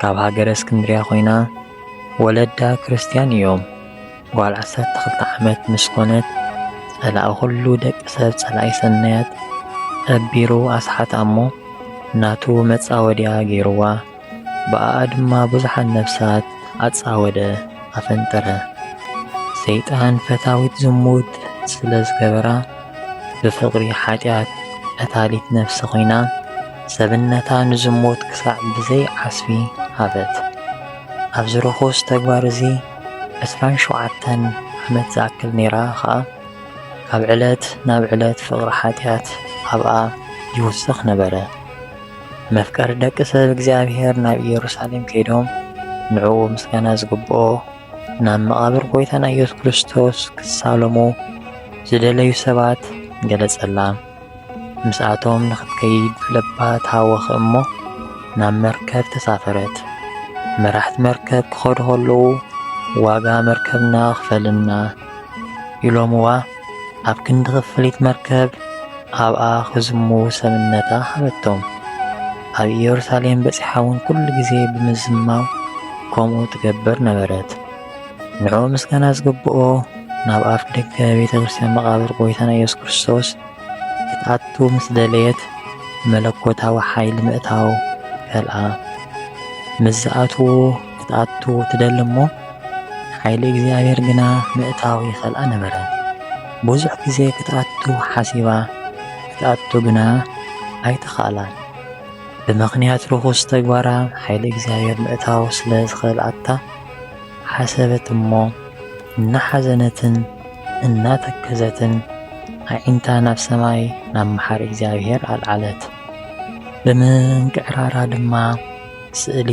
ካብ ሃገረ እስክንድርያ ኮይና ወለዳ ክርስትያን እዮም። ጓል ዓሰርተ ክልተ ዓመት ምስ ኮነት ጸላኢ ኩሉ ደቂ ሰብ ጸላኢ ሰናያት ጠቢሩ ኣስሓታ እሞ ናቱ መጻወድያ ገይርዋ ብኣኣ ድማ ብዙሓት ነፍሳት ኣጻወደ ኣፈንጠረ። ሰይጣን ፈታዊት ዝሙት ስለ ዝገበራ ብፍቕሪ ሓጢኣት ቐታሊት ነፍሲ ኾይና ሰብነታ ንዝሙት ክሳዕ ብዘይ ዓስቢ ሃበት። ኣብዚ ርኹስ ተግባር እዚ ዕስራን ሸውዓተን ዓመት ዝኣክል ነይራ ኸኣ፣ ካብ ዕለት ናብ ዕለት ፍቕሪ ሓጢኣት ኣብኣ ይውስኽ ነበረ። መፍቀሪ ደቂ ሰብ እግዚኣብሄር ናብ ኢየሩሳሌም ከይዶም ንዕኡ ምስጋና ዝግብኦ፣ ናብ መቓብር ጐይታና ኢየሱስ ክርስቶስ ክሳለሙ ዝደለዩ ሰባት ገለጸላ። ምስኣቶም ንኽትከይድ ልባ ተሃወኸ እሞ ናብ መርከብ ተሳፈረት። መራሕቲ መርከብ ክኸዱ ከለዉ ዋጋ መርከብና ክፈልና ኢሎምዋ። ኣብ ክንዲ ክፍሊት መርከብ ኣብኣ ክዝሙ ሰብነታ ሃበቶም። ኣብ ኢየሩሳሌም በጺሓ እውን ኩሉ ግዜ ብምዝማው ከምኡ ትገብር ነበረት። ንዕኡ ምስጋና ዝግብኦ ናብ ኣፍ ደገ ቤተ ክርስቲያን መቓብር ጐይታና ኢየሱስ ክርስቶስ ክትኣቱ ምስ ደለየት መለኮታዊ ሓይሊ ምእታው ከልኣ ምስ ዝኣትዎ ክትኣቱ ትደሊ እሞ ሓይሊ እግዚኣብሔር ግና ምእታው ይኸልኣ ነበረ። ብዙሕ ግዜ ክትኣቱ ሓሲባ ክትኣቱ ግና ኣይተኻእላን። ብምኽንያት ርኹስ ተግባራ ሓይሊ እግዚኣብሔር ምእታው ስለ ዝኸልኣታ ሓሰበት እሞ እናሓዘነትን እናተከዘትን ኣዒንታ ናብ ሰማይ ናብ መሓሪ እግዚኣብሔር ኣልዓለት። ብምንቅዕራራ ድማ ስእሊ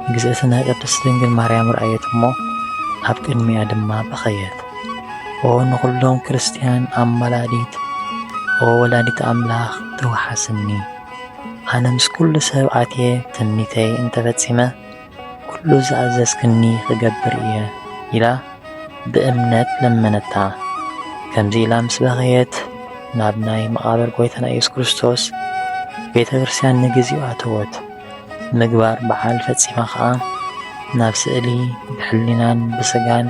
ንግዝእትነ ቅድስት ድንግል ማርያም ረኣየት እሞ ኣብ ቅድሚኣ ድማ በኸየት። ኦ ንኹሎም ክርስትያን ኣማላዲት ኦ ወላዲት ኣምላኽ ተወሓስኒ ኣነ ምስ ኩሉ ሰብ ኣትየ ትምኒተይ እንተፈጺመ ኩሉ ዝኣዘዝክኒ ክገብር እየ ኢላ ብእምነት ለመነታ። ከምዚ ኢላ ምስ በኸየት ናብ ናይ መቓብር ጎይታና ኢየሱስ ክርስቶስ ቤተ ክርስቲያን ንግዚኡ ኣተወት። ምግባር በዓል ፈጺማ ኸኣ ናብ ስእሊ ብሕሊናን ብሥጋን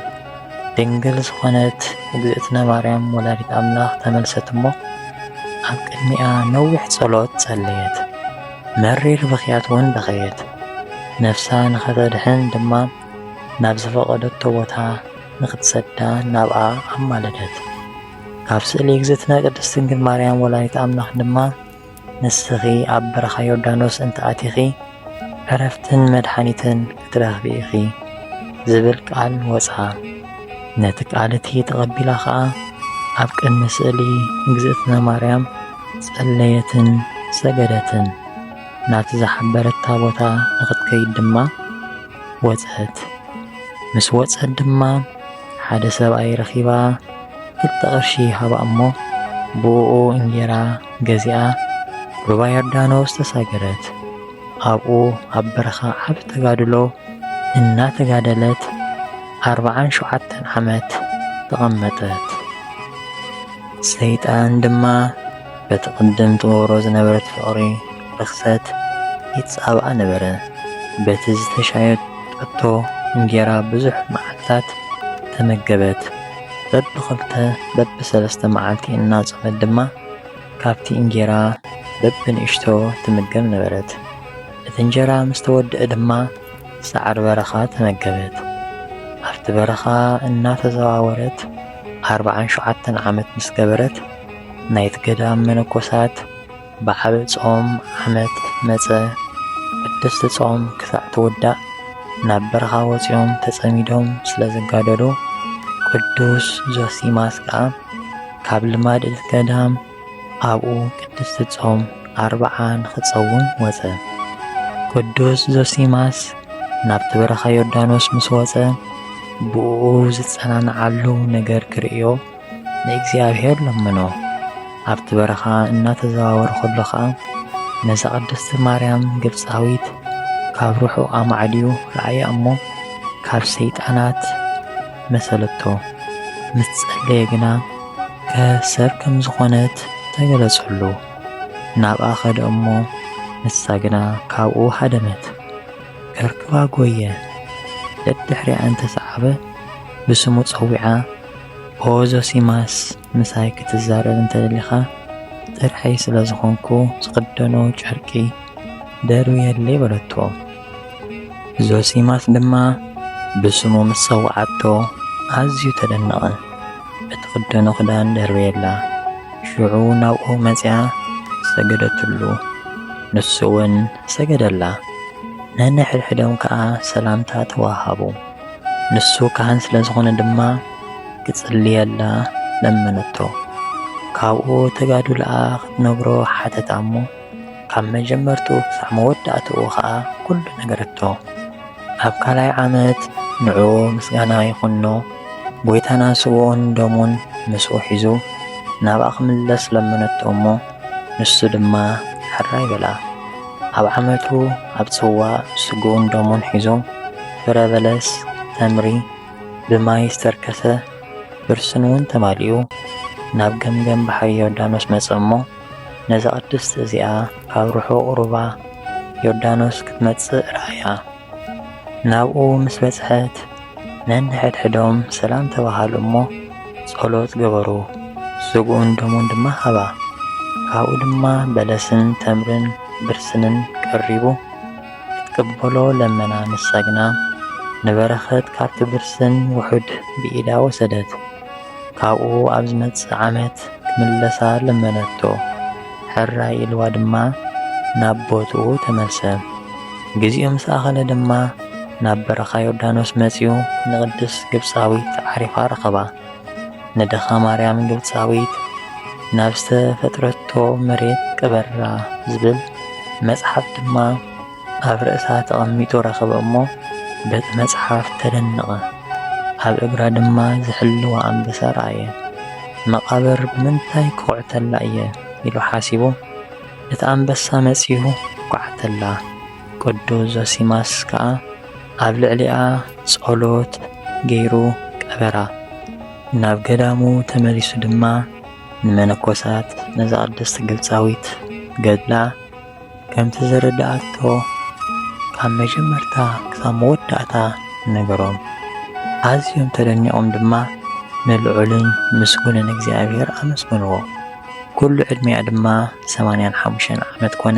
ድንግል ዝኾነት እግዝእትነ ማርያም ወላዲት ኣምላኽ ተመልሰት እሞ ኣብ ቅድሚኣ ነዊሕ ጸሎት ጸለየት። መሪር ብኽያትውን በኸየት። ነፍሳ ንኸተድኅን ድማ ናብ ዝፈቐደቶ ቦታ ንኽትሰዳ ናብኣ ኣማለደት። ካብ ስእሊ እግዝእትነ ቅድስት ድንግል ማርያም ወላዲት ኣምላኽ ድማ ንስኺ ኣብ በረኻ ዮርዳኖስ እንተ ኣቲኺ፣ ዕረፍትን መድሓኒትን ክትረኽቢ ኢኺ ዝብል ቃል ወጽኣ። ነቲ ቃል እቲ ተቐቢላ ኸኣ ኣብ ቅድሚ ስእሊ እግዝእትነ ማርያም ጸለየትን ሰገደትን። ናብቲ ዝሓበረታ ቦታ ንኽትከይድ ድማ ወጸት። ምስ ወጸት ድማ ሓደ ሰብኣይ ረኺባ ክልተ ቅርሺ ሃባ እሞ ብኡኡ እንጌራ ገዚኣ ሩባ ዮርዳኖስ ተሳገረት። ኣብኡ ኣብ በረኻ ዓብ ተጋድሎ እናተጋደለት ኣርባዓን ሸውዓተን ዓመት ተቐመጠት። ሰይጣን ድማ በቲ ቅድም ትገብሮ ዝነበረት ፍቕሪ ርኽሰት ይጻባእ ነበረ። በቲ ዝተሻየጠቶ እንጌራ ብዙሕ መዓልትታት ተመገበት። በብኽልተ በብሰለስተ መዓልቲ እናጾመት ድማ ካብቲ እንጌራ በብንእሽቶ ትምገብ ነበረት። እቲ እንጀራ ምስ ተወድአ ድማ ሳዕሪ በረኻ ተመገበት። ኣብቲ በረኻ እናተዘዋወረት ኣርብዓን ሸውዓተን ዓመት ምስ ገበረት ናይቲ ገዳም መነኮሳት በዓል ጾም ዓመት መጸ፣ ቅድስቲ ጾም ክሳዕ ትውዳእ ናብ በረኻ ወጺኦም ተጸሚዶም ስለ ዝጋደሉ፣ ቅዱስ ዞሲማስ ከኣ ካብ ልማድ እቲ ገዳም ኣብኡ ቅድስቲ ጾም ኣርብዓ ንኽትጸውም ወጸ። ቅዱስ ዞሲማስ ናብቲ በረኻ ዮርዳኖስ ምስ ወጸ ብእኡ ዝጸናንዓሉ ነገር ክርእዮ ንእግዚኣብሔር ለምኖ። ኣብቲ በረኻ እናተዘዋወረ ከሎ ኸኣ ነዛ ቅድስቲ ማርያም ግብፃዊት ካብ ርሑቕ ኣማዕድዩ ረኣያ እሞ ካብ ሰይጣናት መሰለቶ። ምስ ጸለየ ግና ከሰብ ከም ዝኾነት ተገለጸሉ። ናብኣ ኸደ እሞ ንሳ ግና ካብኡ ሃደመት፣ ከርክባ ጐየ። ደድሕሪኣ እንተሰዓበ ብስሙ ጸዊዓ ኦ ዞሲማስ ምሳይ ክትዛረብ እንተደሊኻ ጥርሐይ ስለ ዝኾንኩ ዝኽደኖ ጨርቂ ደርብየለይ በለቶ። ዞሲማስ ድማ ብስሙ ምስ ጸውዓቶ ኣዝዩ ተደነቐ። እትኽደኖ ክዳን ደርብየላ። ሽዑ ናብኡ መጺኣ ሰገደትሉ። ንሱ እውን ሰገደላ። ነንሕድሕዶም ከኣ ሰላምታ ተወሃሃቡ። ንሱ ካህን ስለ ዝኾነ ድማ ክጽልየላ ለመነቶ። ካብኡ ተጋዱልኣ ክትነግሮ ሓተታ እሞ ካብ መጀመርቱ ክሳዕ መወዳእትኡ ኸኣ ኩሉ ነገረቶ። ኣብ ካልኣይ ዓመት ንዑ ምስጋና ይኹኖ ጐይታና ስብኡን ደሙን ምስኡ ሒዙ ናብኣ ክምለስ ለመነቶ እሞ ንሱ ድማ ሕራይ በላ። ኣብ ዓመቱ ኣብ ጽዋ ስግኡን ደሙን ሒዙ ፍረ በለስ፣ ተምሪ፣ ብማይ ዝተርከሰ ብርስን'ውን ተማሊኡ ናብ ገምገም ባሕሪ ዮርዳኖስ መጸ እሞ፣ ነዛ ቅድስት እዚኣ ካብ ርሑቕ ሩባ ዮርዳኖስ ክትመጽእ ረኣያ። ናብኡ ምስ በጽሐት ነንሕድሕዶም ሰላም ተባሃሉ እሞ ጸሎት ገበሩ፣ ስግኡን ደሙን ድማ ሃባ። ካብኡ ድማ በለስን ተምርን ብርስንን ቀሪቡ፣ ትቅበሎ ለመና ምስ ሰግና ንበረኸት ካብቲ ብርስን ውሑድ ብኢዳ ወሰደት። ካብኡ ኣብ ዝመጽእ ዓመት ክምለሳ ለመነቶ። ሕራይ ኢልዋ ድማ ናብ ቦትኡ ተመልሰ። ግዚኡ ምስ ኣኸለ ድማ ናብ በረኻ ዮርዳኖስ መጺኡ ንቅድስት ግብጻዊት ዓሪፋ ረኸባ። ንድኻ ማርያም ግብፃዊት ናብ ዝተፈጥረቶ መሬት ቅበራ ዝብል መጽሓፍ ድማ ኣብ ርእሳ ተቐሚጡ ረኸበ እሞ በቲ መጽሓፍ ተደነቐ። ኣብ እግራ ድማ ዝሕልዋ ኣንበሳ ረኣየ። መቓብር ብምንታይ ክኹዕተላ እየ ኢሉ ሓሲቡ እቲ ኣንበሳ መጺኡ ኳዕተላ። ቅዱስ ዞሲማስ ከኣ ኣብ ልዕሊኣ ጸሎት ገይሩ ቀበራ። ናብ ገዳሙ ተመሊሱ ድማ ንመነኮሳት ነዛ ቅድስት ግብጻዊት ገድላ ከምቲ ዘረድኣቶ ካብ መጀመርታ ክሳብ መወዳእታ ነገሮም። ኣዝዮም ተደኒቖም ድማ ንልዑልን ምስጉንን እግዚኣብሔር ኣመስገንዎ። ኩሉ ዕድሜኣ ድማ ሰማንያን ሓሙሽተን ዓመት ኮነ።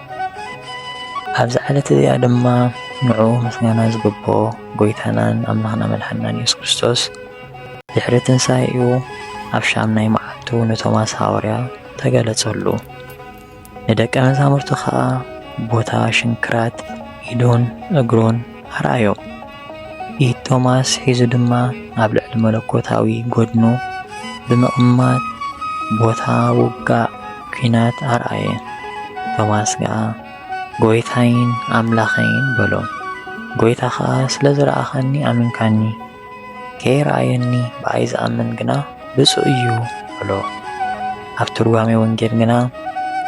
ኣብዛ ዕለት እዚኣ ድማ ንዑ ምስጋና ዝግብኦ ጎይታናን ኣምላኽና መድሓናን የሱስ ክርስቶስ ድሕሪ ትንሣኤኡ ኣብ ሻምናይ መዓልቱ ንቶማስ ሃዋርያ ተገለጸሉ። ንደቀ መዛሙርቱ ኸኣ ቦታ ሽንክራት ኢዱን እግሩን ኣርኣዮ። ኢድ ቶማስ ሒዙ ድማ ኣብ ልዕሊ መለኮታዊ ጎድኑ ብምቕማጥ ቦታ ውጋእ ኲናት ኣርኣየ። ቶማስ ከኣ ጐይታይን ኣምላኸይን በሎ። ጐይታ ኸኣ ስለ ዝረኣኻኒ ኣሚንካኒ፣ ከይረኣየኒ ብኣይ ዝኣምን ግና ብፁእ እዩ በሎ። ኣብ ትርጓሜ ወንጌል ግና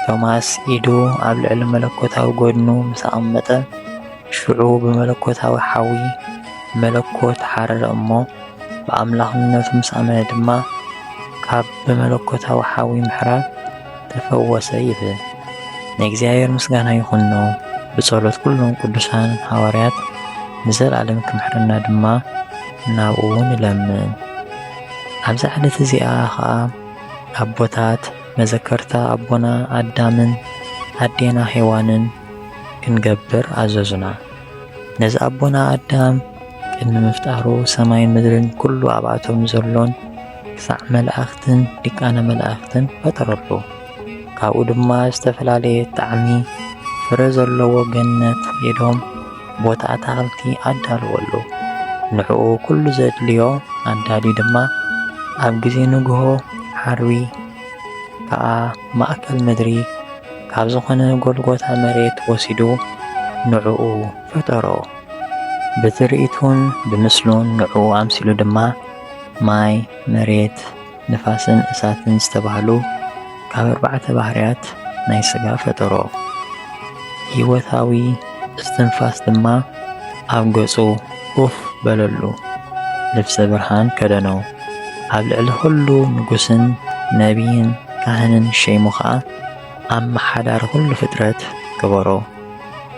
ቶማስ ኢዱ ኣብ ልዕሊ መለኮታዊ ጐድኑ ምስ ኣቐመጠ ሽዑ ብመለኮታዊ ሓዊ መለኮት ሓረረ እሞ ብኣምላኽነቱ ምስ ኣመነ ድማ ካብ ብመለኮታዊ ሓዊ ምሕራር ተፈወሰ ይብል። ንእግዚኣብሔር ምስጋና ይኹኖ ብጸሎት ኩሎም ቅዱሳን ሃዋርያት ንዘለዓለም ክምሕረና ድማ ናብኡ ንለምን። ኣብዛ ዕለት እዚኣ ኸዓ ኣቦታት መዘከርታ ኣቦና ኣዳምን ኣዴና ሔዋንን ክንገብር ኣዘዙና። ነዚ ኣቦና ኣዳም ቅድሚ ምፍጣሩ ሰማይን ምድርን ኩሉ ኣብኣቶም ዘሎን ክሳዕ መላእኽትን ሊቃነ መላእኽትን ፈጠረሉ። ካብኡ ድማ ዝተፈላለየ ጣዕሚ ፍረ ዘለዎ ገነት ኤዶም ቦታ ኣታኽልቲ ኣዳልወሉ። ንዕኡ ኩሉ ዘድልዮ ኣዳልዩ ድማ ኣብ ግዜ ንግሆ ዓርቢ ከኣ ማእከል ምድሪ ካብ ዝኾነ ጎልጎታ መሬት ወሲዱ ንዕኡ ፈጠሮ። ብትርኢቱን ብምስሉን ንዕኡ ኣምሲሉ ድማ ማይ፣ መሬት፣ ንፋስን እሳትን ዝተባህሉ ካብ ኣርባዕተ ባህርያት ናይ ስጋ ፈጠሮ። ህይወታዊ እስትንፋስ ድማ ኣብ ገጹ ኡፍ በለሉ፣ ልብሰ ብርሃን ከደኖ። ኣብ ልዕሊ ዅሉ ንጉስን ነብይን ካህንን ሸይሙ ኸኣ ኣመሓዳሪ ዅሉ ፍጥረት ገበሮ።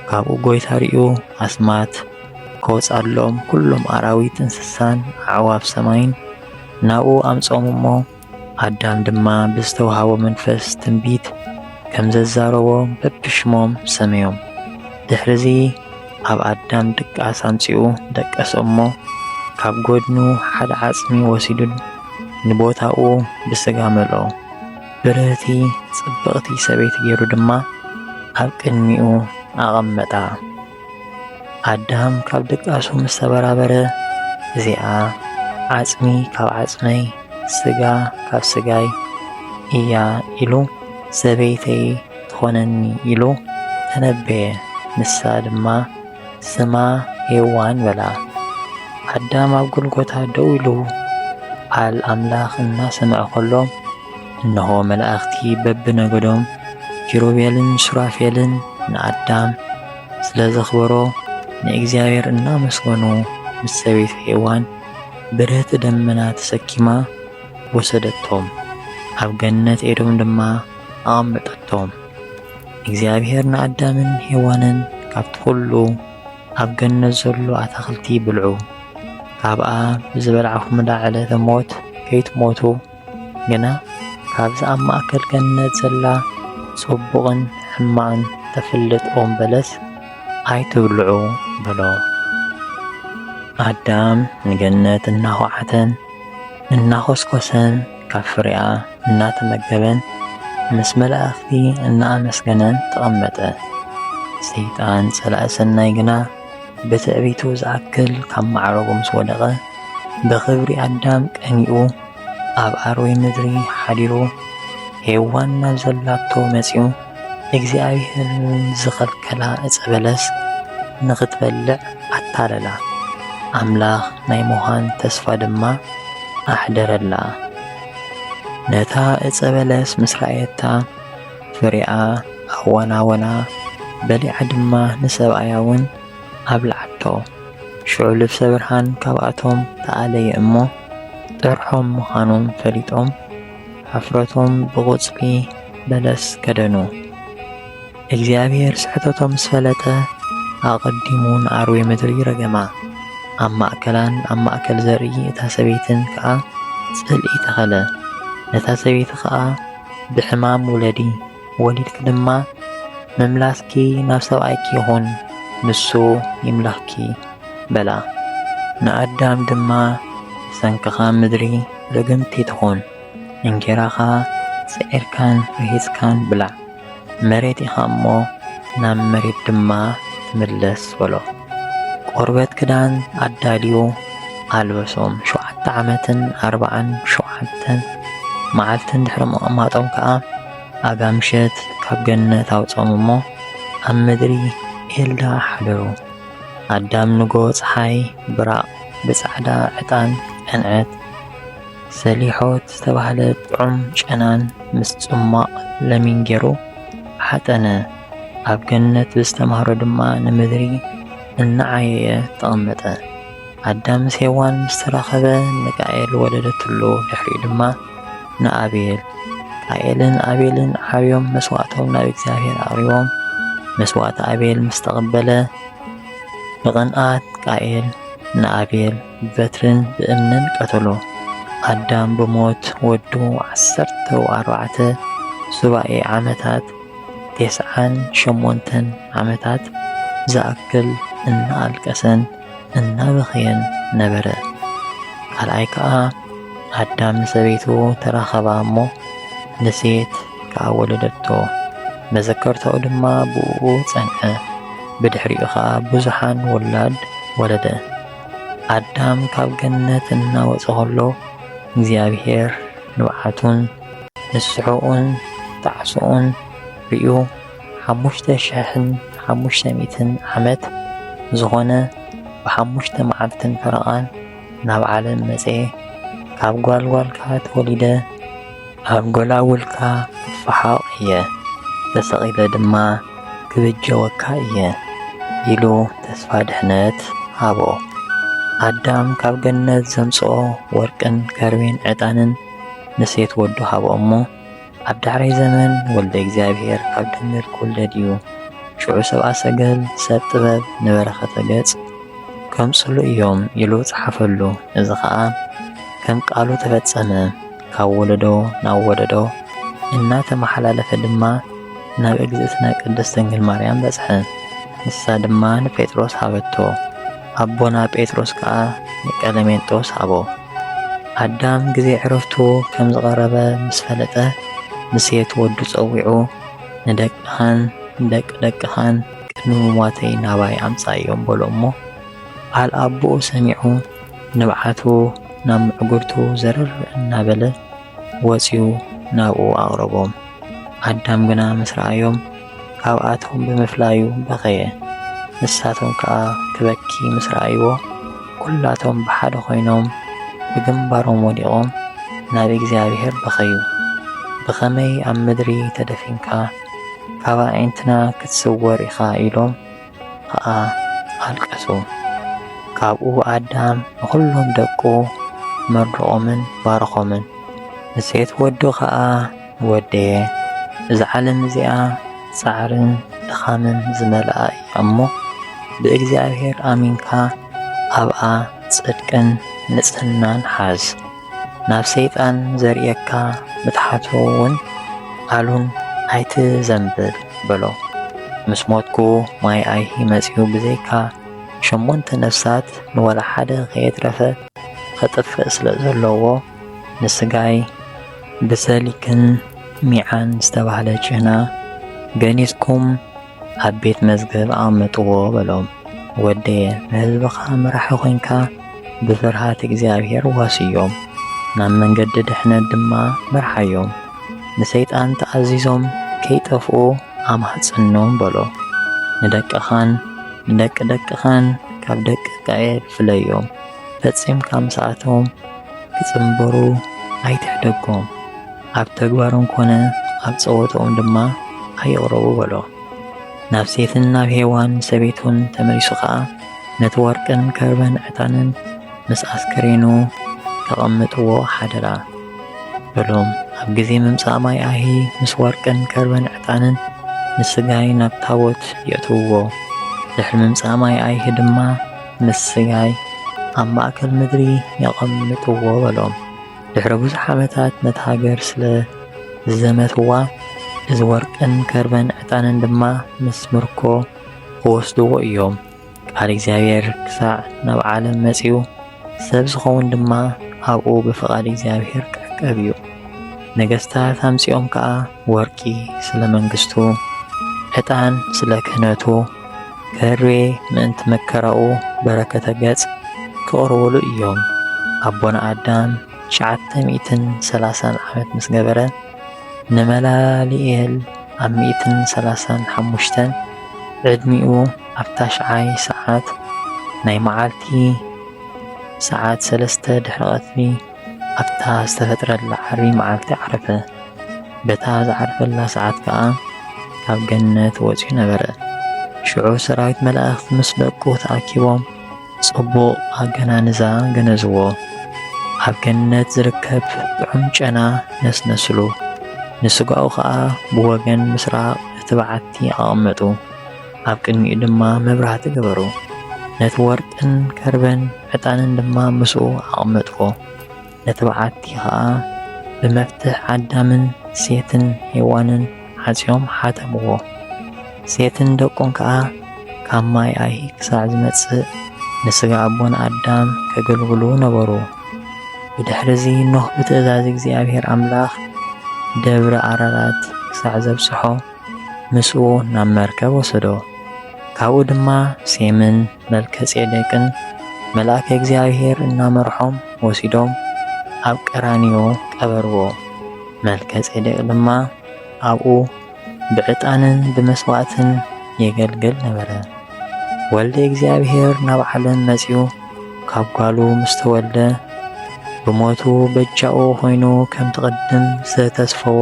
ካብኡ ጐይታ ርእዩ ኣስማት ከውጽኣሎም ኵሎም ኣራዊት እንስሳን ኣዕዋፍ ሰማይን ናብኡ ኣምጽኦም እሞ ኣዳም ድማ ብዝተዋህቦ መንፈስ ትንቢት ከም ዘዛረቦ በብሽሞም ሰመዮም። ድሕርዚ ኣብ ኣዳም ድቃስ ኣምጺኡ ደቀሶ እሞ ካብ ጎድኑ ሓደ ዓጽሚ ወሲዱ ንቦታኡ ብስጋ መልኦ። ብርህቲ ጽብቕቲ ሰበይቲ ገይሩ ድማ ኣብ ቅድሚኡ ኣቐመጣ። ኣዳም ካብ ድቃሱ ምስ ተበራበረ እዚኣ ዓጽሚ ካብ ዓጽመይ ስጋ ካብ ስጋይ እያ ኢሉ ሰበይተይ ትኾነኒ ኢሉ ተነበየ። ንሳ ድማ ስማ ሄዋን በላ። ኣዳም ኣብ ጎልጎታ ደው ኢሉ ቃል ኣምላኽ እናሰምዐ ኸሎ እነሆ መላእኽቲ በብነገዶም ኪሩቤልን ሱራፌልን ንኣዳም ስለ ዘኽበሮ ንእግዚኣብሔር እናመስገኑ ምስ ሰበይቱ ሔዋን ብረት ደመና ተሰኪማ ወሰደቶም። ኣብ ገነት ኤዶም ድማ ኣቐመጠቶም። እግዚኣብሄር ንኣዳምን ሄዋንን ካብቲ ዅሉ ኣብ ገነት ዘሎ ኣታኽልቲ ብልዑ፣ ካብኣ ብዝበላዕኹምላ ዕለተ ሞት ከይትሞቱ፣ ግና ካብዛ ኣብ ማእከል ገነት ዘላ ጽቡቕን ሕማቕን እተፍልጥ ኦም በለስ ኣይትብልዑ በሎ። ኣዳም ንገነት እናዀዓተን እናዀስኰሰን ካብ ፍሬኣ እናተመገበን ምስ መላእኽቲ እናኣመስገነን ተቐመጠ። ሰይጣን ጸላኢ ሰናይ ግና ብትዕቢቱ ዝኣክል ካብ ማዕረጉ ምስ ወደቐ ብኽብሪ ኣዳም ቀኒኡ ኣብ ኣርዌ ምድሪ ሓዲሩ ሄዋን ናብ ዘላቶ መጺኡ እግዚኣብሔር ዝኸልከላ ዕፀ በለስ ንኽትበልዕ ኣታለላ፣ ኣምላኽ ናይ ምዃን ተስፋ ድማ ኣሕደረላ። ነታ ዕፀ በለስ ምስ ረኣየታ ፍሬኣ ኣዋናወና፣ በሊዓ ድማ ንሰብኣያ እውን ኣብልዓቶ። ሽዑ ልብሰ ብርሃን ካብኣቶም ተኣለየ እሞ ጥርሖም ምዃኖም ፈሊጦም ሕፍረቶም ብቑጽሊ በለስ ከደኑ። እግዚኣብሔር ስሕተቶም ምስ ፈለጠ ኣቐዲሙ ንኣርዌ ምድሪ ረገማ። ኣብ ማእከላን ኣብ ማእከል ዘርኢ እታ ሰበይትን ከኣ ጽልኢ ተኸለ። ነታ ሰበይቲ ከኣ ብሕማም ውለዲ፣ ወሊድኪ ድማ ምምላስኪ ናብ ሰብኣይኪ ይኹን፣ ንሱ ይምለኽኪ በላ። ንኣዳም ድማ ብሰንክኻ ምድሪ ርግምቲ ትኹን እንጌራኻ ጽዒርካን ርሂጽካን ብላዕ መሬት ኢኻ እሞ ናብ መሬት ድማ ትምለስ በሎ። ቆርበት ክዳን ኣዳልዩ ኣልበሶም ሸውዓተ ዓመትን ኣርብዓን ሸውዓተን መዓልትን ድሕሪ ምቕማጦም ከኣ ኣጋምሸት ካብ ገነት ኣውጾም እሞ ኣብ ምድሪ ኤልዳ ሓደሩ። ኣዳም ንጎ ጸሓይ ብራቕ ብጻዕዳ ዕጣን ዕንዐት ሰሊሖት ዝተባህለ ጥዑም ጨናን ምስ ጽሟቕ ለሚን ጌሩ ሓጠነ። ኣብ ገነት ብዝተማህሮ ድማ ንምድሪ እናዓየየ ተቐመጠ። ኣዳም ምስ ሄዋን ምስ ተራኸበ ንቃኤል ወለደትሉ፣ ድሕሪኡ ድማ ንኣቤል። ቃኤልን ኣቤልን ዓብዮም መስዋእቶም ናብ እግዚኣብሔር ኣቕሪቦም፣ መስዋእቲ ኣቤል ምስ ተቐበለ ብቕንኣት ቃኤል ንኣቤል ብበትርን ብእምንን ቀተሎ። ኣዳም ብሞት ወዱ ዓሰርተ ኣርባዕተ ሱባኤ ዓመታት ቴስዓን ሸሞንተን ዓመታት ዝኣክል እናኣልቀሰን እናበኸየን ነበረ። ካልኣይ ከኣ ኣዳም ንሰበይቱ ተራኸባ እሞ ንሴት ከኣ ወለደቶ፣ መዘከርታኡ ድማ ብእኡ ጸንዐ፣ ብድሕሪኡ ኸኣ ብዙሓን ውላድ ወለደ። ኣዳም ካብ ገነት እናወጸ ኸሎ እግዚኣብሔር ንብዓቱን ንስሐኡን ጣዕስኡን ርእዩ ሓሙሽተ ሽሕን ሓሙሽተ ሚእትን ዓመት ዝኾነ ብሓሙሽተ መዓልትን ፈረቓን ናብ ዓለም መጽኤ ካብ ጓልጓልካ ተወሊደ ኣብ ጎላጉልካ ክፈሓቕ እየ ተሰቒለ ድማ ክብጀወካ እየ ኢሉ ተስፋ ድሕነት ሃቦ። ኣዳም ካብ ገነት ዘምጽኦ ወርቅን ከርቤን ዕጣንን ንሴት ወዱ ሃቦ እሞ ኣብ ዳሕራይ ዘመን ወልደ እግዚኣብሔር ካብ ድንግል ክውለድ እዩ። ሽዑ ሰብኣ ሰገል ሰብ ጥበብ ንበረኸተ ገጽ ከምጽሉ እዮም ኢሉ ጸሓፈሉ። እዚ ኸኣ ከም ቃሉ ተፈጸመ። ካብ ወለዶ ናብ ወለዶ እናተመሓላለፈ ድማ ናብ እግዝእትነ ቅድስት ድንግል ማርያም በጽሐ። ንሳ ድማ ንጴጥሮስ ሃበቶ። ኣቦና ጴጥሮስ ከኣ ንቀለሜንጦስ ሃቦ። ኣዳም ግዜ ዕረፍቱ ከም ዝቐረበ ምስ ፈለጠ፣ ንሴት ወዱ ጸዊዑ፣ ንደቅኻን ንደቂ ደቅኻን ቅድሚ ምሟተይ ናባይ ኣምጽኣዮም በሎ እሞ፣ ቃል ኣቦኡ ሰሚዑ ንብዓቱ ናብ ምዕጕርቱ ዘርር እናበለ፣ ወጺኡ ናብኡ ኣቕረቦም። ኣዳም ግና ምስ ረኣዮም፣ ካብኣቶም ብምፍላዩ በኸየ። ንሳቶም ከኣ ክበኪ ምስ ረኣይዎ፣ ኵላቶም ብሓደ ዀይኖም ብግንባሮም ወዲቖም ናብ እግዚኣብሄር በኸዩ። ብኸመይ ኣብ ምድሪ ተደፊንካ፣ ካብ ኣዒንትና ክትስወር ኢኻ? ኢሎም። ኸኣ ኣልቀሱ። ካብኡ ኣዳም ንዅሎም ደቁ መርቖምን ባረኾምን። ንሴት ወዱ ኸኣ ወደየ፣ እዛ ዓለም እዚኣ ጻዕርን ድኻምን ዝመልኣ እያ እሞ፣ ብእግዚኣብሄር ኣሚንካ ኣብኣ ጽድቅን ንጽህናን ሓዝ። ናብ ሰይጣን ዘርእየካ ምትሓቱ እውን ኣሉን ኣይትዘንብል በሎ። ምስ ሞትኩ ማይ ኣይሂ መጺኡ ብዘይካ ሸሞንተ ነፍሳት ንወላ ሓደ ከየትረፈ ኸጥፍእ ስለ ዘለዎ ንስጋይ ብሰሊክን ሚዓን ዝተባህለ ጭህና ገኒዝኩም ኣብ ቤት መዝገብ ኣቐምጥዎ በሎም። ወደየ ንህዝብኻ መራሒ ኾይንካ ብፍርሃት እግዚኣብሔር ዋስዮም፣ ናብ መንገዲ ድሕነት ድማ ምርሓዮም። ንሰይጣን ተኣዚዞም ከይጠፍኡ ኣማሕጽኖም በሎ። ንደቅኻን ንደቂ ደቅኻን ካብ ደቂ እስራኤል ፍለዮም፣ ፈጺምካ ምስኣቶም ክጽንበሩ ኣይትሕደጎም። ኣብ ተግባሮም ኮነ ኣብ ጸወታኦም ድማ ኣይቕረቡ በሎ። ናብ ሴትን ናብ ሄዋን ሰበይቱን ተመሊሱ ኸኣ ነቲ ወርቅን ከርበን ዕታንን ምስ ኣስከሬኑ ተቐምጥዎ ሓደራ በሎም። ኣብ ግዜ ምምጻእ ማይ ኣሂ ምስ ወርቅን ከርበን ዕጣንን ንስጋይ ናብ ታቦት የእትውዎ። ድሕሪ ምምጻእ ማይ ኣይሂ ድማ ምስ ስጋይ ኣብ ማእከል ምድሪ የቐምጥዎ በሎም። ድሕሪ ብዙሕ ዓመታት ነታ ሃገር ስለ ዝዘመትዋ፣ እዚ ወርቅን ከርበን ዕጣንን ድማ ምስ ምርኮ ክወስድዎ እዮም። ቃል እግዚኣብሔር ክሳዕ ናብ ዓለም መጺኡ፣ ሰብ ዝኸውን ድማ ኣብኡ ብፍቓድ እግዚኣብሔር ክዕቀብ እዩ። ነገስታት ኣምጺኦም ከኣ ወርቂ ስለ መንግስቱ፣ ዕጣን ስለ ክህነቱ፣ ከርቤ ምእንቲ መከራኡ በረከተ ገጽ ክቕርቡሉ እዮም። ኣቦና ኣዳም ትሽዓተ ሚእትን ሰላሳን ዓመት ምስ ገበረ ንመላሊኤል ኣብ ሚእትን ሰላሳን ሓሙሽተን ዕድሚኡ ኣብ ታሽዓይ ሰዓት ናይ መዓልቲ ሰዓት ሰለስተ ድሕሪ ቀትሪ ኣብታ ዝተፈጥረላ ዓርቢ መዓልቲ ዓረፈ። በታ ዝዓርፈላ ሰዓት ከኣ ካብ ገነት ወጺኡ ነበረ። ሽዑ ሰራዊት መላእኽቲ ምስ ደቁ ተኣኪቦም ጽቡቕ ኣገናንዛ ገነዝዎ። ኣብ ገነት ዝርከብ ጥዑም ጨና ነስነስሉ። ንስጋኡ ከኣ ብወገን ምስራቕ እቲ በዓቲ ኣቐመጡ። ኣብ ቅድሚኡ ድማ መብራህቲ ገበሩ። ነቲ ወርቅን ከርበን ዕጣንን ድማ ምስኡ ኣቐመጥዎ። ነቲ በዓቲ ኸዓ ብመፍትሕ ኣዳምን ሴትን ሄዋንን ዓጽዮም ሓተምዎ። ሴትን ደቁን ከዓ ካብ ማይ ኣይሂ ክሳዕ ዝመጽእ ንስጋ ኣቦን ኣዳም ከገልግሉ ነበሩ። ብድሕሪ እዚ ኖህ ብትእዛዝ እግዚኣብሔር ኣምላኽ ደብረ ኣራራት ክሳዕ ዘብጽሖ ምስኡ ናብ መርከብ ወሰዶ። ካብኡ ድማ ሴምን መልከ ጼዴቅን መልኣከ እግዚኣብሔር እናመርሖም ወሲዶም ኣብ ቀራንዮ ቀበርዎ። መልከ ጼዴቅ ድማ ኣብኡ ብዕጣንን ብመስዋዕትን የገልግል ነበረ። ወልደ እግዚኣብሔር ናብ ዓለም መጺኡ ካብ ጓሉ ምስ ተወልደ ብሞቱ በጃኡ ኾይኑ ከምቲ ቅድም ዝተተስፈዎ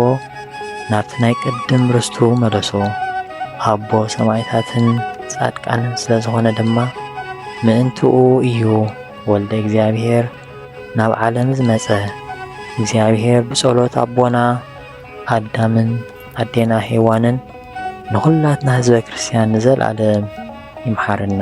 ናብቲ ናይ ቅድም ርስቱ መለሶ። ኣቦ ሰማይታትን ጻድቃንን ስለ ዝኾነ ድማ ምእንትኡ እዩ ወልደ እግዚኣብሔር ናብ ዓለም ዝመጸ። እግዚኣብሔር ብጸሎት ኣቦና ኣዳምን ኣዴና ሄዋንን ንኹላትና ህዝበ ክርስቲያን ንዘለዓለም ይምሓረና።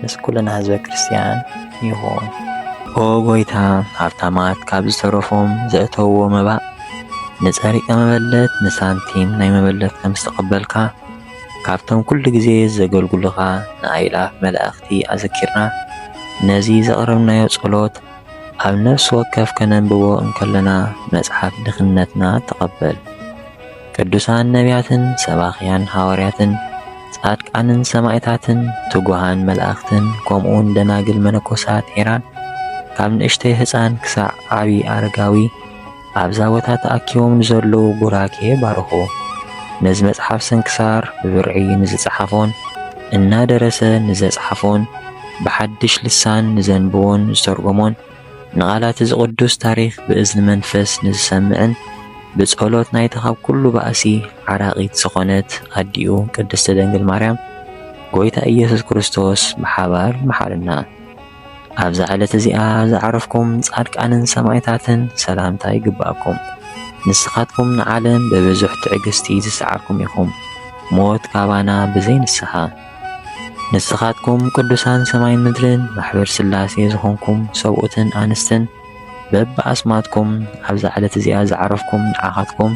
ምስ ኩልና ህዝበ ክርስትያን ይኹን። ኦ ጐይታ፣ ሃብታማት ካብ ዝተረፎም ዘእተውዎ መባእ ንጸሪቀ መበለት ንሳንቲም ናይ መበለት ከም ዝተቐበልካ፣ ካብቶም ኩሉ ግዜ ዘገልግሉኻ ንኣእላፍ መላእኽቲ ኣዘኪርና ነዚ ዘቕረብናዮ ጸሎት ኣብ ነፍሲ ወከፍ ከነንብቦ እንከለና መጽሓፍ ድኽነትና ተቐበል። ቅዱሳን ነቢያትን ሰባኽያን ሃዋርያትን ጻድቃንን ሰማዕታትን ትጉሃን መላእኽትን ከምኡውን ደናግል መነኮሳት ሄራን ካብ ንእሽተይ ህፃን ክሳዕ ዓብዪ ኣረጋዊ ኣብዛ ቦታ ተኣኪቦም ንዘለዉ ቡራኬ ባርኹ። ነዚ መጽሓፍ ስንክሳር ብብርዒ ንዝጸሓፎን እናደረሰ ንዘጽሓፎን ብሓድሽ ልሳን ንዘንብቦን ዝተርጎሞን ንቓላት እዚ ቅዱስ ታሪኽ ብእዝኒ መንፈስ ንዝሰምዕን ብጸሎት ናይታ ካብ ኩሉ ባእሲ ዓራቒት ዝኾነት ኣዲኡ ቅድስቲ ድንግል ማርያም ጎይታ ኢየሱስ ክርስቶስ ብሓባር መሓርና። ኣብዛ ዕለት እዚኣ ዝዓረፍኩም ጻድቃንን ሰማዕታትን ሰላምታ ይግባእኩም። ንስኻትኩም ንዓለም ብብዙሕ ትዕግስቲ ዝሰዓርኩም ኢኹም፣ ሞት ካባና ብዘይ ንስሓ። ንስኻትኩም ቅዱሳን ሰማይን ምድርን ማሕበር ሥላሴ ዝኾንኩም ሰብኡትን ኣንስትን በብኣስማትኩም ኣብዛ ዕለት እዚኣ ዝዓረፍኩም ንዓኻትኩም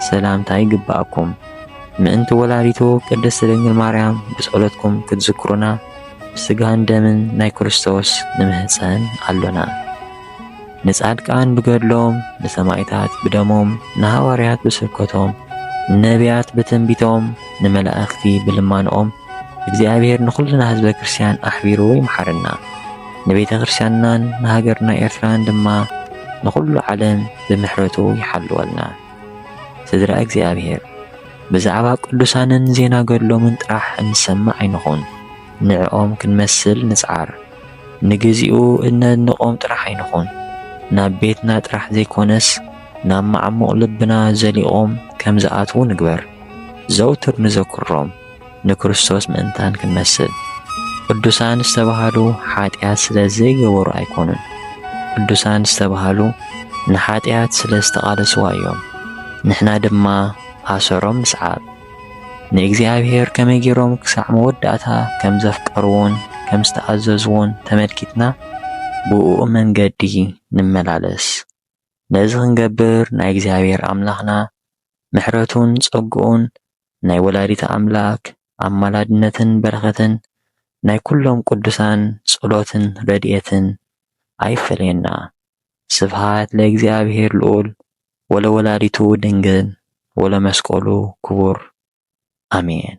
ሰላምታ ይግብኣኩም። ምእንቲ ወላዲቱ ቅድስት ድንግል ማርያም ብጸሎትኩም ክትዝክሩና ብሥጋን ደምን ናይ ክርስቶስ ንምህጸን ኣሎና። ንጻድቃን ብገድሎም፣ ንሰማይታት ብደሞም፣ ንሃዋርያት ብስብከቶም፣ ንነቢያት ብትንቢቶም፣ ንመላእኽቲ ብልማንኦም እግዚኣብሔር ንኹልና ህዝበ ክርስቲያን ኣሕቢሩ ይምሓረና። ንቤተ ክርስቲያንናን ንሃገርና ኤርትራን ድማ ንኹሉ ዓለም ብምሕረቱ ይሓልወልና። ስድራ እግዚኣብሔር ብዛዕባ ቅዱሳንን ዜና ገድሎምን ጥራሕ እንሰምዕ ኣይንኹን፣ ንዕኦም ክንመስል ንጽዓር። ንግዚኡ እነድንቆም ጥራሕ ኣይንኹን፣ ናብ ቤትና ጥራሕ ዘይኮነስ ናብ መዓሙቕ ልብና ዘሊቖም ከም ዝኣትዉ ንግበር። ዘውትር ንዘክሮም፣ ንክርስቶስ ምእንታን ክንመስል። ቅዱሳን ዝተባህሉ ሓጢኣት ስለ ዘይገበሩ ኣይኮኑን፣ ቅዱሳን ዝተባህሉ ንሓጢኣት ስለ ዝተቓለስዋ እዮም። ንሕና ድማ ኣሰሮም ንስዓብ። ንእግዚኣብሄር ከመይ ገይሮም ክሳዕ መወዳእታ ከም ዘፍቀርዎን ከም ዝተኣዘዝዎን ተመልኪትና ብእኡ መንገዲ ንመላለስ። ነዚ ክንገብር ናይ እግዚኣብሄር ኣምላኽና ምሕረቱን ጸግኡን ናይ ወላዲተ ኣምላክ ኣማላድነትን በረኸትን ናይ ኩሎም ቅዱሳን ጸሎትን ረድኤትን ኣይፈለየና። ስብሃት ለእግዚኣብሄር ልኡል ወለወላዲቱ ድንግል ወለመስቀሉ ክቡር ኣሜን።